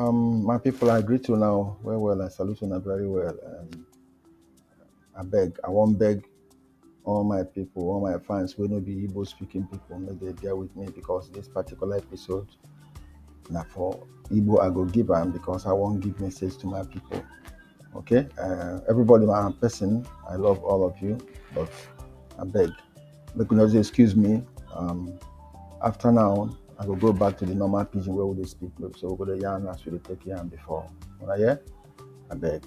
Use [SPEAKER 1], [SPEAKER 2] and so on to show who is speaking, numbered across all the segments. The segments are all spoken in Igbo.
[SPEAKER 1] Um, my people, I greet you now. Well, well, I salute you now very well. Um, I beg, I won't beg all my people, all my fans will not be Igbo speaking people. May they bear with me because this particular episode now for Igbo I go give them because I won't give message to my people. Okay, uh, everybody, my person, I love all of you, but I beg, make una just excuse me um, after now i go go back to the normal pidgin wey we dey speak no be so we go dey yarn as we dey take yarn before una hear abeg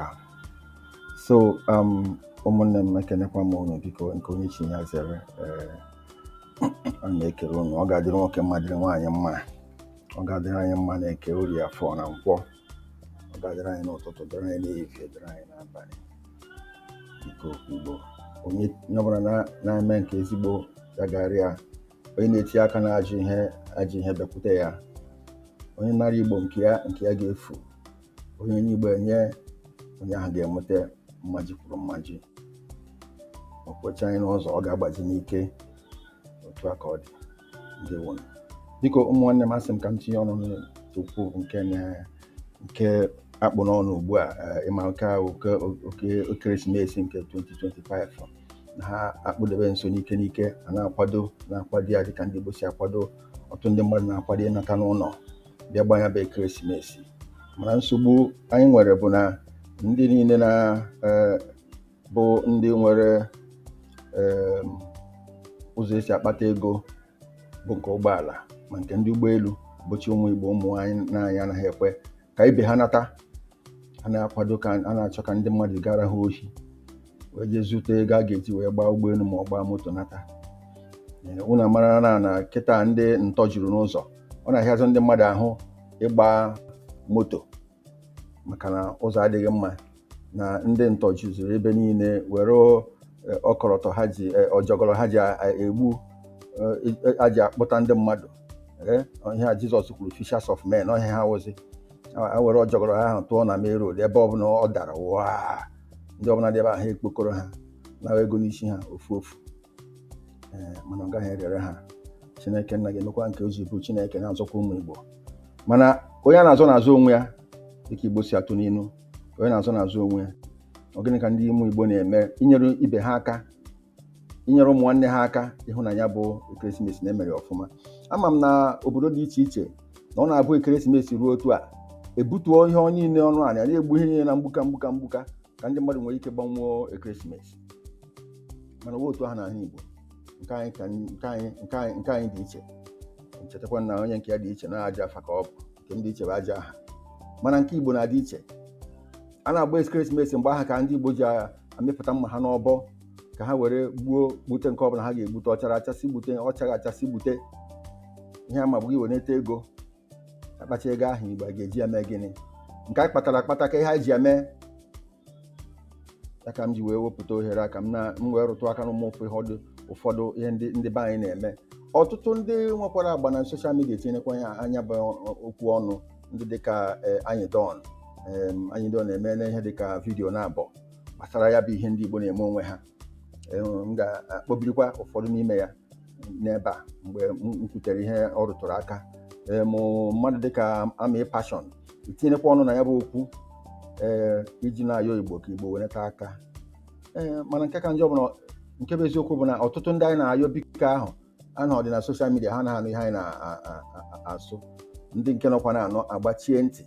[SPEAKER 1] ah so um, ụmụnne m ekenekwa m unu biko nke onye chi ya zere ee a na-ekele unu ọ ga-adịrị nwoke mma dịrị nwaanyị mma ọ ga-adịrị anyị mma n'eke orie afọ na nkwọ ọ ga-adịrị anyị n'ụtụtụ dịrị anyị n'ehihie dịrị anyị n'abalị biko igbo onye ọbụla na-eme nke ezigbo ya gara ya onye na-etinye aka n'ajọ ihe ajọ ihe bịakwute ya onye nara igbo nke ya nke ya ga-efu onye onye igbo enye onye ahụ ga-enweta mmaji kwuru mmaji okwecha anyị n'ụzọ ọ ga-agbazi n'ike otu aka ọ dị ndewo biko ụmụ nwanne m asị m ka m tinye ọnụ n'okwu nke a nke a kpụ n'ọnụ ugbu a eh, ị ma nke a oke oke ekeresimesi nke 2025 na ha akpụdebe nso n'ike n'ike a na-akwado na-akwado ya dịka ndị Igbo si akwado ọtụtụ ndị mmadụ na-akwado ịnata n'ụlọ bịa gbaa nya bụ ekeresimesi mana nsogbu anyị nwere bụ na ndị niile na eh, bụ ndị nwere em, ụzọ e si akpata ego bụ nke ụgbọala ma nke ndị ụgbọelu bụcha ụmụ igbo ụmụ nwanne anyị anaghị ekwe ka ibe ha nata a na-akwado ka a na-achọ ka ndị mmadụ gara ha ohi wee jee zute ego a ga-eji wee gbaa ụgbọelu ma ọ gbaa moto nata Ee, unu mara na na kịta ndị ntọ juru n'ụzọ ọ na-ahịazị ndị mmadụ ahụ ịgba moto maka na ụzọ adịghị mma na ndị ntọ juziri ebe niile were eh, ọkọlọtọ ha ji eh, ọjọgọrọ ha ji a- a- egbu eh, eh, a ji akpụta ndị mmadụ Eh, ihe a jizọs kwuru fishers of men ọ ihe ha wụzi ha were ọjọgọrọ ha ahụ tụọ na main road ebe ọbụla ọ dara waa ndị ọbụla dị ebe ahụ e kpokọrọ ha naa ego n'isi ha ofu ofu Eh, mana ọ gaghị erere ha chineke nna ga-emekwa nke o ji bụ chineke na-azọkwa ụmụ igbo mana onye a na-azọ na-azọ onwe ya dịka igbo si atụ n'inu onye a na-azọ na-azọ onwe ya ọ gịnị ka ndị ụmụ Igbo na-eme inyere ibe ha aka inyere ụmụ nwanne ha aka ịhụ na ya bụ ekeresimesi na e mere ọfụma ama m na obodo dị iche iche na ọ na-abụ ekeresimesi ruo otu a e butuo ihe onye niile ọnụ a na-egbu ihe niile na mgbuka mgbuka mgbuka ka ndị mmadụ nwere ike gbanwuo ekeresimesi mana ọ wụghị otu ahụ n'ala Igbo nke anyị dị iche chetakwa na onye nke ya dị iche na ajọ afa ka ọ bụ nke m dị iche bụ ajọ aha mana nke igbo na-adị iche a na-agba ekeresimesi mgbe ahụ ka ndị igbo ji amịpụta mma ha n'ọbọ ka ha were gbuo gbute nke ọbụla ha ga-egbute ọ chara acha a sị gbute ọ chaghị acha a sị gbute ihe a ma bụ gị were nweta ego a kpachaa ego ahụ igbo a ga-eji ya mee gịnị nke anyị kpatara akpata kee ihe anyị ji ya mee ya ka m ji wee wepụta ohere a ka m na m wee rụtụ aka n'ụmụ ụfọdụ ụfọdụ ihe ndị ndị be anyị na-eme ọtụtụ ndị nwekwara agba na soshal midia etinyekwa na ya bụ okwu ọnụ ndị dịka eh, Anyidon em, Anyidon emeela ihe dịka vidiyo naabọ gbasara ya bụ ihe ndị igbo na-eme onwe ha m ga-akpọbirikwa ụfọdụ n'ime ya n'ebe a mgbe m kwutere ihe ọ rụtụrụ aka em mmadụ dịka Ami Passion etinyekwa ọnụ na ya bụ okwu ee iji na-ayọ igbo ka igbo weneta aka ee mana nke ka njọ bụ na nke bụ eziokwu bụ na ọtụtụ ndị anyị na-ayọ biko ahụ anọdị na soshal midia ha anaghị anụ ihe anyị na-asụ ndị nke nọkwa na-anụ agbachie ntị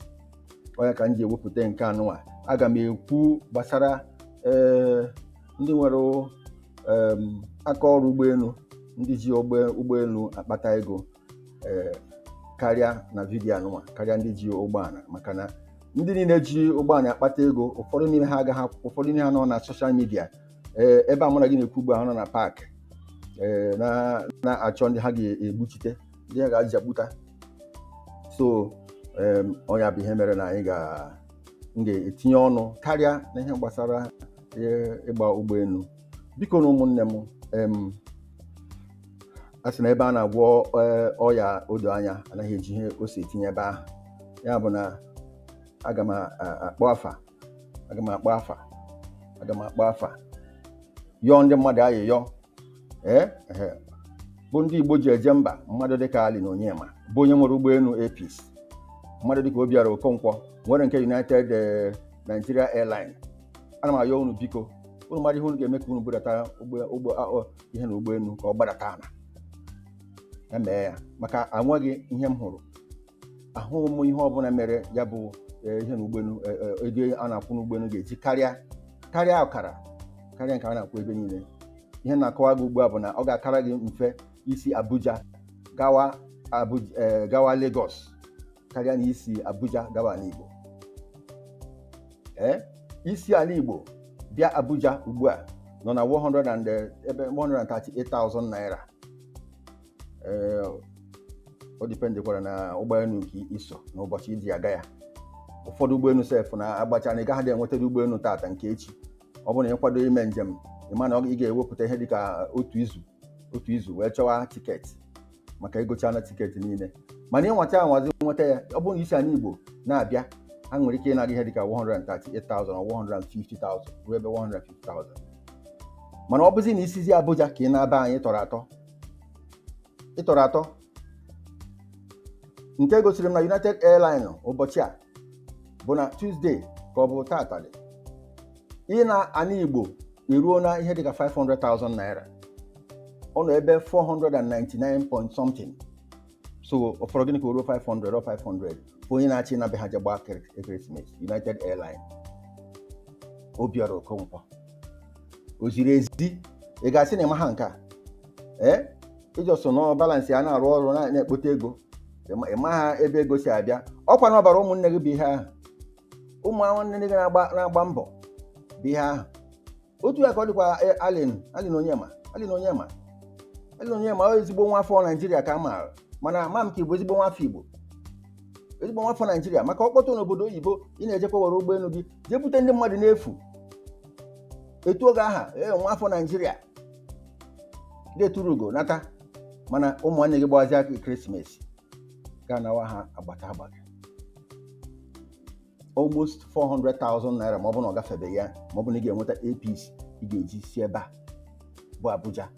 [SPEAKER 1] ọ ya ka m ji ewepụta nke anụnwa aga m ekwu gbasara ee ndị nwere em, aka ọrụ ụgbọelu ndị ji ụgbọ- ụgbọelu akpata ego ee karịa na vidiyo anụnwa karịa ndị ji ụgbọala maka na ndị niile ji ụgbọala akpata ego ụfọdụ n'ime ha agaghị akwụ- ụfọdụ n'ime ha nọ na soshal midia ee ebe a mụ na gị na-ekwu ugbu a ha nọ na paakị ee na na-achọ ndị ha ga-egbuchite ndị ha ga-aja gbuta so em, ọ nya bụ ihe mere na anyị ga m ga-etinye ọnụ karịa na ihe gbasara eh, ịgba ụgbọelu bikonu ụmụnne m em, a sị na ebe a na-agwọ eh, ọya odo anya anaghị eji ihe ose etinye ebe ahụ ya bụ na aga m a- a- akpọ afa aga m akpọ afa aga m akpọ afa yọọ ndị mmadụ ayịyọ ee ehe bụ ndị igbo ji eje mba mmadụ dịka Allen Onyema bụ onye nwere ụgbọelu Air Peace mmadụ dịka Obiora okonkwo nwere nke united eh, nigeria airline ana m ayọ unu biko unu mara ihe unu ga-eme ka unu budata ụgbọ- ụgbọ- a- ọ- ihe na ụgbọelu ka ọ gbadata ala ya mee ya maka anweghị ihe m hụrụ ahụghị m ihe ọbụla mere ya bụ eh, ihe na ụgbọelu eh, eh, ego a na-akwụ n'ụgbọelu ga-eji karịa karịa ọkara karịa nke a na-akwụ ebe niile ihe m na-akọwa gị ugbu a bụ na ọ ga-akara gị mfe isi abuja gawa Abuja, eh, gawa Lagos karịa na isi abuja gawa ala igbo ee isi ala igbo bịa abuja ugbu a nọ na 100 and, eh, ebe 138,000 naira ee o dipendekwara na ụgbọelu nke i so na ụbọchị i ji aga ya ụfọdụ ụgbọelu sef na-agbacha na ị gaghịdị enweta ụgbọelu tata nke echi ọ bụrụ na ị kwado ime njem ị ma na ị ga-ewepụta ihe dịka otu izu otu izu wee chọwa tiketi maka e gochana tiketi niile mana ị nwacha anwazi nweta ya ọ bụrụ na i si ala Igbo na-abịa ha nwere ike ịna gị ihe dịka 138,000 or 150,000 ruo ebe 150,000 mana ọ bụzi na i sizi Abuja ka ị naba be anyị tọrọ atọ ịtọrọ atọ nke gosiri m na United Airline ụbọchị a bụ na Tuesday ka ọ bụ tata dị ịna ana Igbo eruona ihe dịka 500,000 naira ọ nọ ebe 499 point something so ọ fọrọ gịnị ka o ruo 500 ọ 500 bụ onye na-achọ ịna be ha je gbaa kere- ekeresimesi United Airline Obiọra Okonkwo o ziri ezi ị ga-asị na ị maha nke a ee ị just nọ balance a na-arụ ọrụ na- na-ekpote ego ịma- ị maha ebe ego si abịa ọkwa na ọbara ụmụnne gị bụ ihe ahụ ụmụ nwanne gị na-agba na-agba mbọ bụ ihe ahụ otu ya ka ọ dịkwa eh, Allen Allen Onyema Allen Onyema Allen Onyema ọ ezigbo nwa afọ Naijiria ka a maara mana ama m ka ị bụ ezigbo nwa afọ Igbo ezigbo nwa afọ Naijiria maka ọ kpọtụ n'obodo oyibo ị na-ejekwa were ụgbọelu gị jee bute ndị mmadụ n'efu e tuo gị aha ee nwa afọ Naijiria ga-eturu ugo nata mana ụmụnne gị gbawazia krismas ga-anawa ha agbata agbata almost 400,000 naira ma ọ bụ na ọ gafebeghị ya ma ọ bụ na ị ga-enweta Air Peace ị ga-eji si ebe a bụ Abuja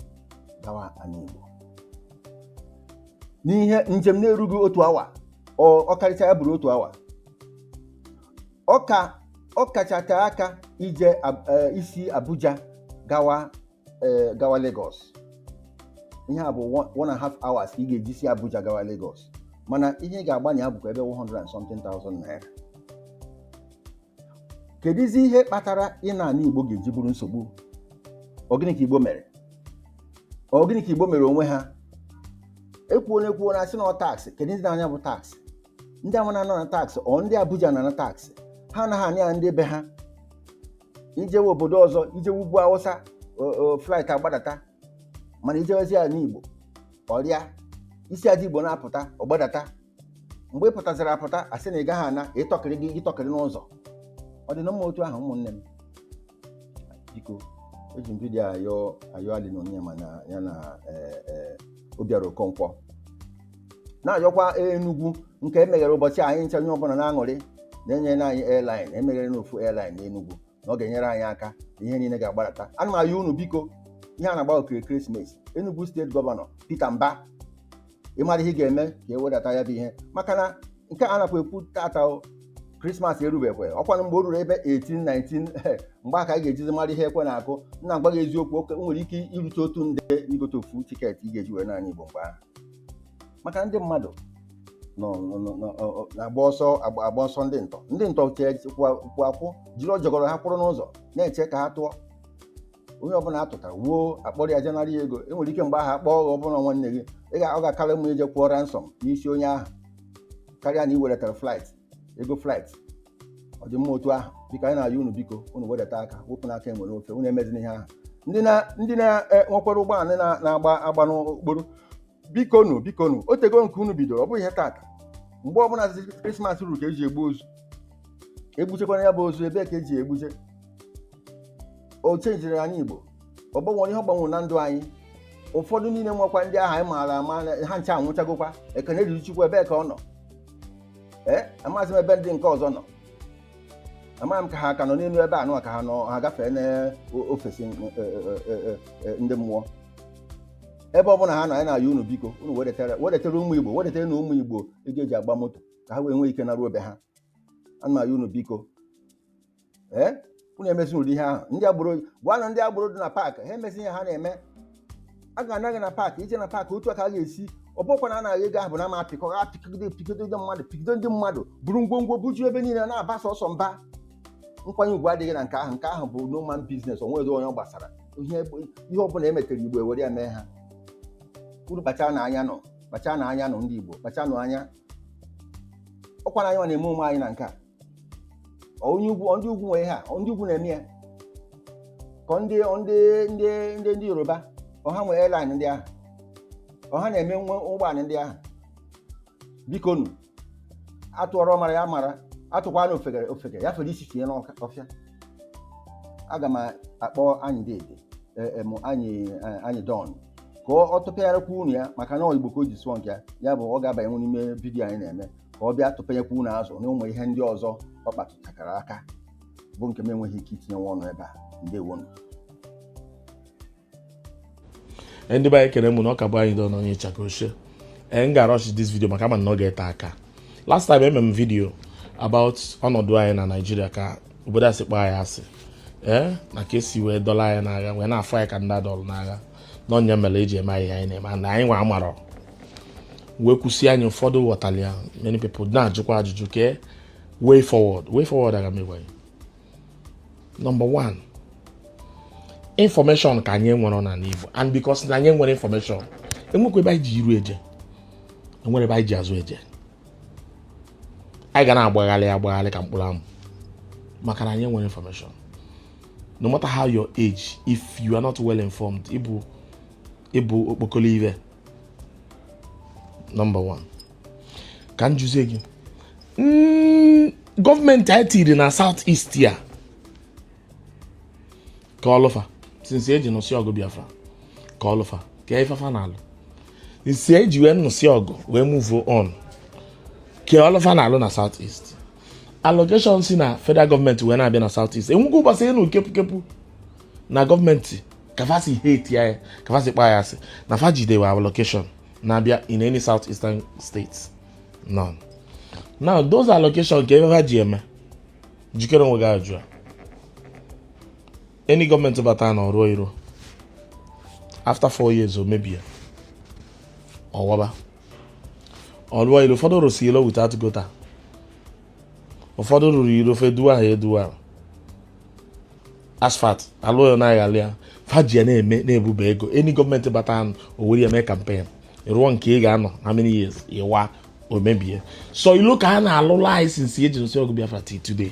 [SPEAKER 1] gawa ala Igbo n'ihe njem na-erughị otu awa ọ ọ karịcha ya bụrụ otu awa ọ ka ọ kacha tee aka ije Ab- eh, isi Abuja gawa eh, gawa Lagos ihe a bụ one- one and a half hours ka ị ga-eji si Abuja gawa Lagos mana ihe ị ga-agba na ya bụkwa ebe 100 and something thousand naira kedụzi ihe kpatara ịna ana Igbo ga-eji bụrụ nsogbu ọ gịnị ka Igbo mere ọ gịnị ka Igbo mere onwe ha e kwuo na e kwuo na a sị na ọ tax kedụ ndị na-ana ya bụ tax ndị ahụ na-ana tax ọ ndị Abuja na-ana tax ha anaghị ana ya ndị be ha i jewe obodo ọzọ i jewe ugwu Awụsa flight agbadata mana i jewezie ana Igbo ọ rịa isi ana Igbo na-apụta ọ gbadata mgbe ị pụtaziri apụta a sị na ị gaghị ana ịtọkịrị gị ịtọkịrị n'ụzọ ọ dị na mma otu ahụ ụmụnne m biko eji m vidiyo ayọ ayọ Allen Onyema na ya na eh, eh, Obiọra Okonkwo na-ayọkwa Enugu nke e meghere ụbọchị anyị nche onye ọbụla na-aṅụrị na e nyere anyị airline e meghere n'ofu airline n'Enugu na ọ ga-enyere anyị aka ihe niile ga-agbadata ana m ayọ unu biko ihe a na-agba okiri ekeresimesi Enugu steeti gọvanọ Peter Mbah ị mara ihe ga-eme ka e wedata ya bụ ihe maka na nke a nakwa ekwu tata krismas erubekwe ọkwanụ mgbe o ruru ebe 18 19 mgbe ahụ ka anyị ga-ejizi mara ihe ekwe na-akụ na-agwa gị eziokwu o nwere ike irute otu nde igote ofu tiketi ị ga-eji were naa ana Igbo mgbe ahụ maka ndị mmadụ nọ nọ- nọ- nọ- ọ- ọ- na-agba ọsọ agba agba ọsọ ndị ntọ ndị ntọ chee kwụ kwụ akwụ jiri ọjọgọrọ ha kwụrụ n'ụzọ na-eche ka ha tụọ onye ọbụla atụtara wuo akpọrọ ya je nara ya ego enwere ike mgbe ahụ akpọọ ọbụna nwanne gị ị ga- ọ ga-akara mma ije kwụọ ransom n'isi onye ahụ karịa na i wedetara flight ego flight ọ dị mma otu ahụ biko anyị na-ayọ unu biko unu wedata aka wepụnụ aka enwe n'ofe unu emezina ihe ahụ ndị na ndị na-enwekwara ụgbọala na- na-agba agba n'okporo biko nu biko nu o tego nke unu bidoro ọ bụghị ihe tata mgbe ọbụla zi krismas ruru ka eji egbu ozu egbuchekwanụ ya bụ ozu ebee ka eji egbuje o chenjiri anyị igbo ọ gbanwere ihe ọ gbanwere na ndụ anyị ụfọdụ niile nwekwa ndị ahụ anyị maara ama na- ha ncha anwụchagokwa ekene dịrị chukwu ebee ka ọ nọ ee amaghịzi m ebe ndị nke ọzọ nọ amaghị m ka ha ka nọ n'elu ebe anụ a ka ha nọ ha gafee n'ofesi ndị mmụọ ebe ọ bụla ha nọ anyị na-ayọ unu biko unu wedetara wedetara ụmụ igbo wedetaranụ ụmụ igbo ego eji agba moto ka ha wee nwee ike naruo be ha ana m ayọ unu biko ee unu emezi ụdị ihe ahụ ndị agboro gwanụ ndị agboro dị na paakị ha emezi ihe ha na-eme a ga-ana gị na paakị ije na paakị otu a ka a ga-esi ọ bụkwa na a naa gị ego ahụ bụ na ma apịkọ ha pịkọgide pịkọdo ndị mmadụ pịkọdo ndị mmadụ buru ngwongwo bujuo ebe niile na-aba sọsọ mba nkwanye ugwu adịghị na nke ahụ nke ahụ bụ no man business o nwerọ onye ọ gbasara ihe ihe ọ bụla emetere igbo ewere ya mee ha unu kpachaanụ anya nọ kpachaanụ anya nọ ndị igbo kpachaanụ anya ọkwa na anyị nwa na-eme onwe anyị na nke a onye ugwu ndị ugwu nwe ha ọ ndị ugwu na-eme ya ka ọ ndị ndị ndị ndị ndị yoruba ọ ha nwe airline ndị ahụ ọ ha na-eme nwe ụgbọala ndị ahụ biko nu atụọrọ ọmara ya mara atụkwanụ ofeke ofeke ya fere isi tinye n'ọfịa aga m akpọ anyị dede em anyi anyi don ka ọ tụpịarakwa unu ya maka na ọ igbo ka o ji sụọ nke ya ya bụ ọ ga-abanye n'ime vidiyo anyị na-eme ka ọ bịa tụpenyekwa unu azụ na ụmụ ihe ndị ọzọ ọ kpatụchakwara aka bụ nke m enweghị ike itinyenwu ọnụ ebe a ndewonu
[SPEAKER 2] Eh, ndị be anyị ekene m ụnụ ọ ka bụ anyi don onye ịchaka ochie ee eh, m ga-arush this vidio maka ama na ọ ga-ete aka last time eme m vidio about ọnọdụ anyị na naijiria ka obodo a si kpọọ anyị asị ee eh, na ka esi wee dọlụ anyị n'agha wee na-afụ anyị ka ndị adọlụ n'agha na ọ nya mere eji eme anyị ihe a na-eme na anyị nwa amarọ wee kwusịa ya ụfọdụ ghọtara ya many people na-ajụkwa ajụjụ kee way forward way forward aga m agwa gị number one information ka anyị enwerọ n'anị Igbo and because na anyị enwerọ information enwekwọ ebe anyị ji iru eje enwerọ ebe anyị ji azụ eje anyị ga na-agbagharị agbagharị ka mkpụrụ amụ maka na anyị enwerọ information no matter how your age if you are not well informed ị bụ ị bụ okpokolo ife number one ka m jụzie gị hmm, gọọmenti anyị tiri na south east a kee ọlụ fa since e ji nụsị ọgụ Biafra kee ọlụ fa kee ife fa na-alụ since e ji wee nụsị ọgụ wee move on kee ọlụ fa na-alụ na south east allocation si na federal gọọmenti wee na-abịa na south east enwekwa ụbọsị ị nụ kepụkepụ na gọọmenti ka fa si hate anyị ka fa si kpọ anyị asị na fa jidewe allocation na-abịa in any south eastern states none now those allocation kee ife fa ji eme jụkene onwe gị ajụjụ a any gọọmenti bata nụ ọ rụọ iro after four years o mebie ọ waba ọ lụọ ilo ụfọdụ rụsi ilo without gutter ụfọdụ rụrụ iro ofe duwa ha eduwa asphalt alụọ ya na-aghalị ya fa ji ya na-eme na-ebube ego any gọọmenti bata nụ o were ya mee campaign rụọ nke ga-anọ how many years ọ wa o mebie so ilo ka a na-alụlụ anyị since e ji nụsị ọgụ Biafra till today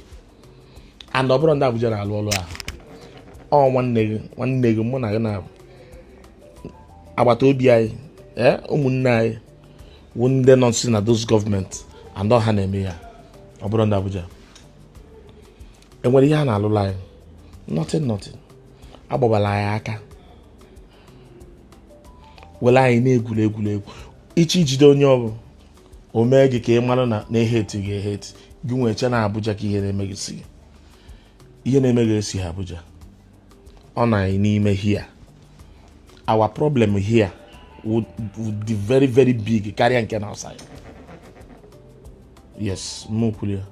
[SPEAKER 2] and ọ bụrọ ndị Abuja na-alụ ọlụ ahụ ọ nwanne gị nwanne gị mụ na gị na agbata obi anyị ee ụmụnne anyị wụ ndị nọsị na those gọọmenti and ọ ha na-eme ya ọ bụrọ ndị Abuja enwerọ ihe a na-alụlụ anyị nothing nothing agbabala anyị aka were anyị na-egwuri egwuregwu ị chọọ ijide onye ọ bụ o mee gị ka ị mara na a na-ehate gị ehate gị ewee chee na Abuja ka ihe na-eme gị si ihe na-eme gị esighi Abuja ọ nọ anyị n'ime here our problem here would, would be very very big karịa nke na outside yes m kwuru ya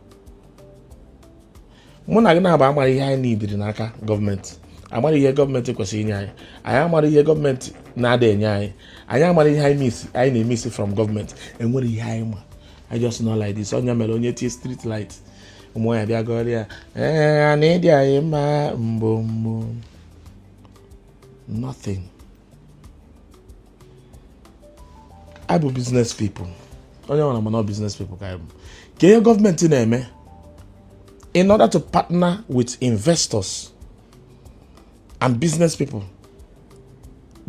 [SPEAKER 2] mụ na gị naabọ amarọ ihe anyị needịrị n'aka gọọmenti amarọ ihe gọọmenti kwesịrị inye anyị anyị amarọ ihe gọọmenti na-ada enye anyị anyị amarọ ihe anyị na-emisi from gọọmenti enwerọ ihe anyị ma anyị just know like this onye mere onye tie street light ụmụ ya bịa goria ee na ị dị anyị mma mbombo nothing anyị bụ business people onye nwere mana business people ka anyị bụ kee ihe gọọmenti na-eme in order to partner with investors and business people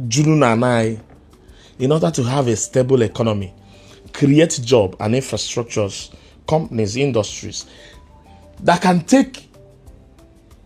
[SPEAKER 2] juru na anyị in order to have a stable economy create job and infrastructures companies industries that can take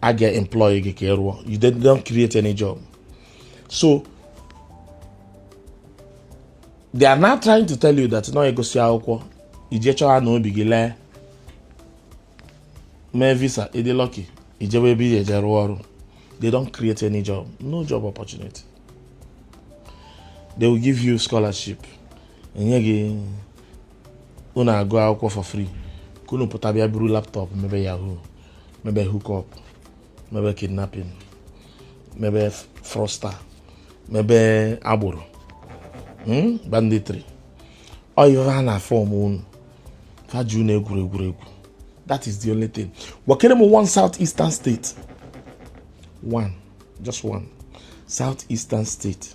[SPEAKER 2] a ga-employ gị ka ị rụọ you don't create any job so they are now trying to tell you that na ị gụsịa akwụkwọ i je chọọ na obi gị lee mee visa ị dị lucky i jewe ebe ị eje rụọ ọrụ they don't create any job no job opportunity they will give you scholarship e nye gị unu agụ akwụkwọ for free ka unu pụta bịa buru laptop mebe yahoo mebe hookup mebe kidnapping mebe fraudster mebe agboro hmm? banditry ọ ive va na fọm unu fa ji unu egwuri egwuregwu that is the only thing gwakene m one south eastern state one just one south eastern state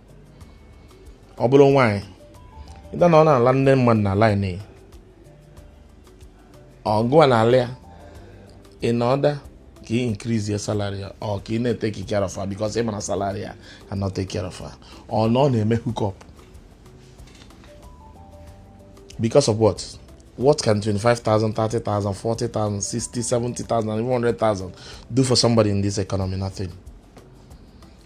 [SPEAKER 2] ọ bụrụ nwaanyị either na ọ na-ala nde mmadụ na laịn ya ọga ya na-ala ya in order ka ị increase ya salary ya or ka ị na-eteki care of her because ị ma na salary ya cannot take care of her or na ọ na-eme hook up because of what what can 25,000, 30,000, 40,000, 60, 70,000, 100,000 do for somebody in this economy? Nothing.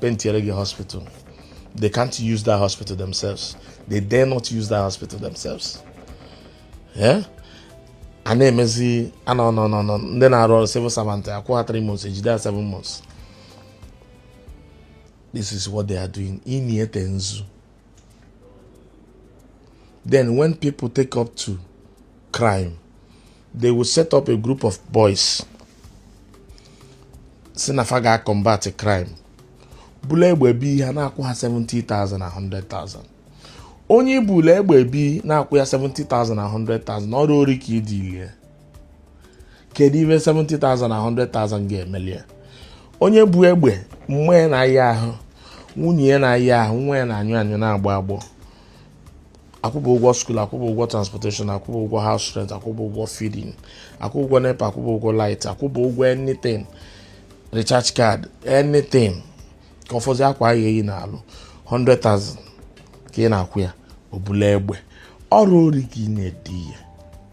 [SPEAKER 2] pentiere gị hospital they can't use that hospital themselves they dare not use that hospital themselves yeah? a na-emezi anọ nọ nọ nọ ndị na-arụ ọrụ civil servant a kwụọ ha 3 months e jide ha 7 months this is what they are doing ị na-ete nzu Then when people take up to crime, they will set up a group of boys sị na fa ga-acombat crime bula egbe bii ha na-akwụ ha 70,000 na 100,000 onye i bula egbe bii na-akwụ ya 70,000 na 100,000 ọrụ ori ka i diili ye kedu ife 70,000 na 100,000 ga-emeli ya onye bu egbe nne ya na-aya ahụ nwunye ya na-aya ahụ nwa ya na-anyụ anyụ na-agbọ agbọ akwụba ụgwọ school akwụba ụgwọ transportation akwụba ụgwọ house rent akwụba ụgwọ feeding akwụba ụgwọ NEPA akwụba ụgwọ light akwụba ụgwọ anything recharge card anything ka ọ fọzi akwa a ya-eyi n'arụ 100,000 ka ị na-akwụ ya o bula egbe ọrụ ori ka ị na-edi ya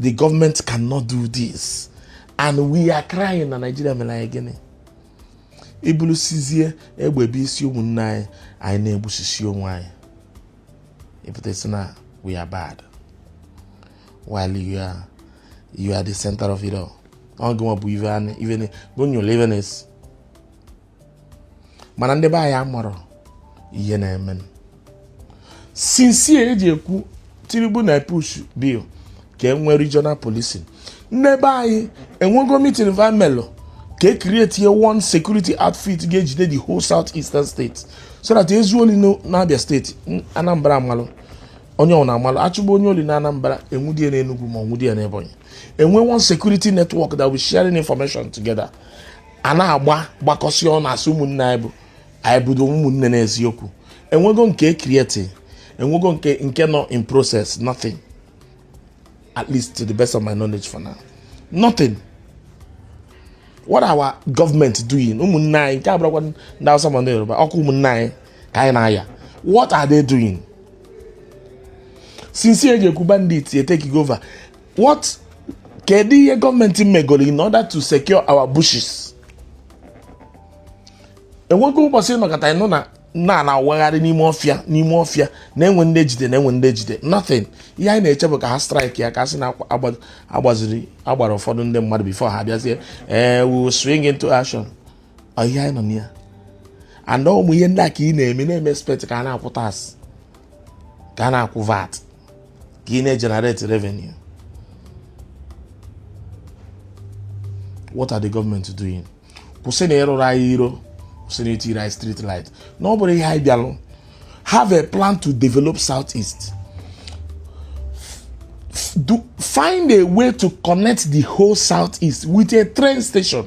[SPEAKER 2] the government cannot do this and we are crying na Nigeria mere anyị gịnị i bulusizie egbe biisi ụmụnna anyị anyị na-egbusisi onwe anyị ị pụta sị na we are bad while you are you are the center of it all ọ gịnwa bụ ive na ive na mana ndị be anyị amarọ ihe na-eme since eji ekwu Tinubu na push bill ka e nwee regional policing ndị be anyị enwego meeting va melụ ka e create one security outfit ga-ejide the whole south eastern state so that e zuo oli n'abia state anambra amalụ onye ọ na-amalụ achụba onye oli na anambra enwudie na enugwu ma onwudie na ebonyi enwe one security network that we sharing information together a na-agba gbakọsị ọnụ asị ụmụnne anyị bụ anyị bụdo ụmụnne n'eziokwu enwego nke e create enwego nke nke nọ in process nothing at least to the best of my knowledge for now nothing what are our government doing ụmụnne anyị nke abụrụkwa ndị awụsa ma ndị yoruba ọkụ ụmụnne anyị ka anyị na-aya what are they doing since eji ekwu bandits etakego over what kedu ihe gọọmenti megoro in order to secure our bushes enwego ụbọsị nọkata ịnụ na na na-awagharị n'ime ọfịa n'ime ọfịa na enwere ndị ejide na enwere ndị ejide nothing ihe anyị na-eche bụ ka ha strike ya ka a sị na agbaziri agbara ụfọdụ ndị mmadụ before ha bịazie ee eh, we swing into action ihe anyị nọ na ya and ọ ụmụ ihe ndị a ka ị na-eme na-eme expect ka a na-akwụ tax ka a na-akwụ vat ka ị na-egenerate revenue what are the government doing kwụsị na ịrụrụ anyị iro kwụsị na itiri anyị street light na ọ bụrọ ihe anyị bịalụ have a plan to develop south east find a way to connect the whole southeast with a train station.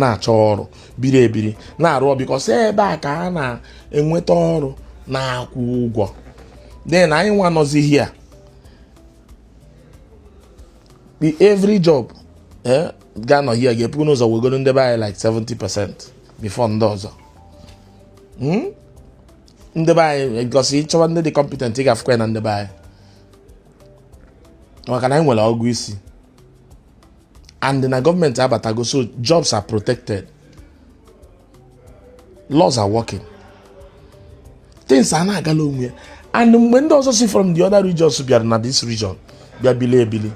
[SPEAKER 2] na-achọ ọrụ biri ebiri na-arụ because ebe a ka a na-enweta ọrụ na-akwụ ụgwọ then anyị nwa nọzi here every job eh, ga-anọ here ga-ebu ụzọ wegolu ndị be anyị like 70 percent before ndị ọzọ hmm? ndị be anyị because ịchọwa ndị dị competent ị ga-afụkwa ya na ndị be anyị maka na anyị nwere ọgụ isi and na gọọmenti abatago so jobs are protected laws are working things a na-agala onwe ya and mgbe ndị ọzọ si from the other regions bịara na this region bịa bili ebili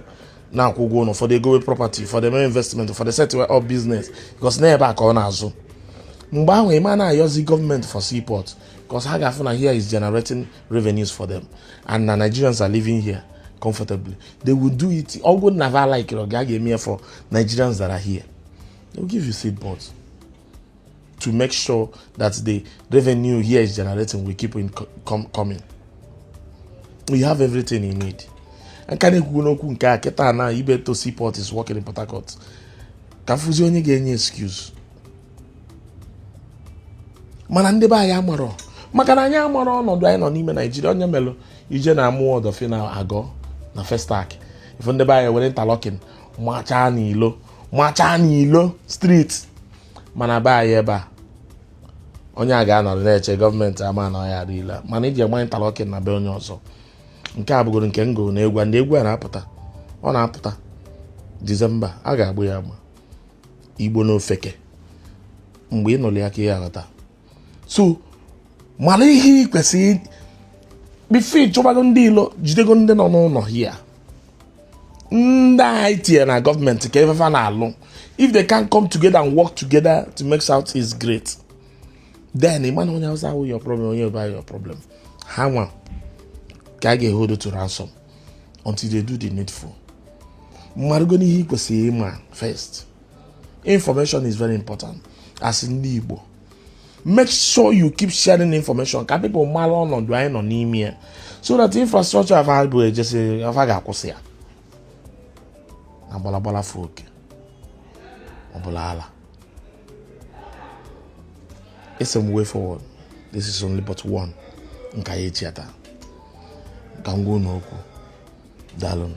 [SPEAKER 2] na-akwụ ụgwọ ụlọ ụfọdụ egowe property ụfọdụ eme investment ụfọdụ set up business because na ebe a ka ọ na-azụ mgbe ahụ ịma na-ayọzi gọọmenti for seaport because ha ga-afụ na here is generating revenues for them and na Nigerians are living here comfortably they will do it ọ bụrọ na va like ị va ga-eme for Nigerians that are here they will give you seaports to make sure that the revenue here is generating will keep in com coming we have everything you need ka m na-ekwugodu okwu nke a kịta na Ibeto seaport is working in Port Harcourt ka a fụzie onye ga-enye excuse mana ndị be anyị amarọ maka na anyị amarọ ọnọdụ anyị nọ n'ime naijiria onye melụ ije na Amuwo Odofin na Ago na Festac ife ndị be anyị were interlocking machaa n'ilo street mana be anyị ebe a onye a ga-anọrọ na-eche gọọmenti ama na ọya adịla mana iji agba interlocking na be onye ọzọ nke a bụgoro nke ngo na egwu ndị egwu a na-apụta ọ na-apụta disemba a ga-agbụ ya agba igbo na ofeke mgbe ị nụrụ ya ka ị aghọta so mara ihe ị kwesịrị before ị chọbago ndị ilo jidego ndị nọ n'ụlọ here ndị anyị tinyere na gọọmenti ka ife fa na-alụ if they can't come together and work together to make south east great then ị ma na onye awụsa abụrọ your problem onye yoruba your problem ha nwa ka a ga-ehold to ransom until they do the needful marụgonụ ihe ị kwesịrị ịma first information is very important as ndị Igbo make sure you keep sharing information ka people mara ọnọdụ anyị nọ n'ime ya so that infrastructure fa bụ ejesi afa ga-akwụsị ya na gbalagbala fee oke ọ bụlụ ala it's some way forward this is only but one nke anyị echi ata ka m gwa unu okwu daalụnụ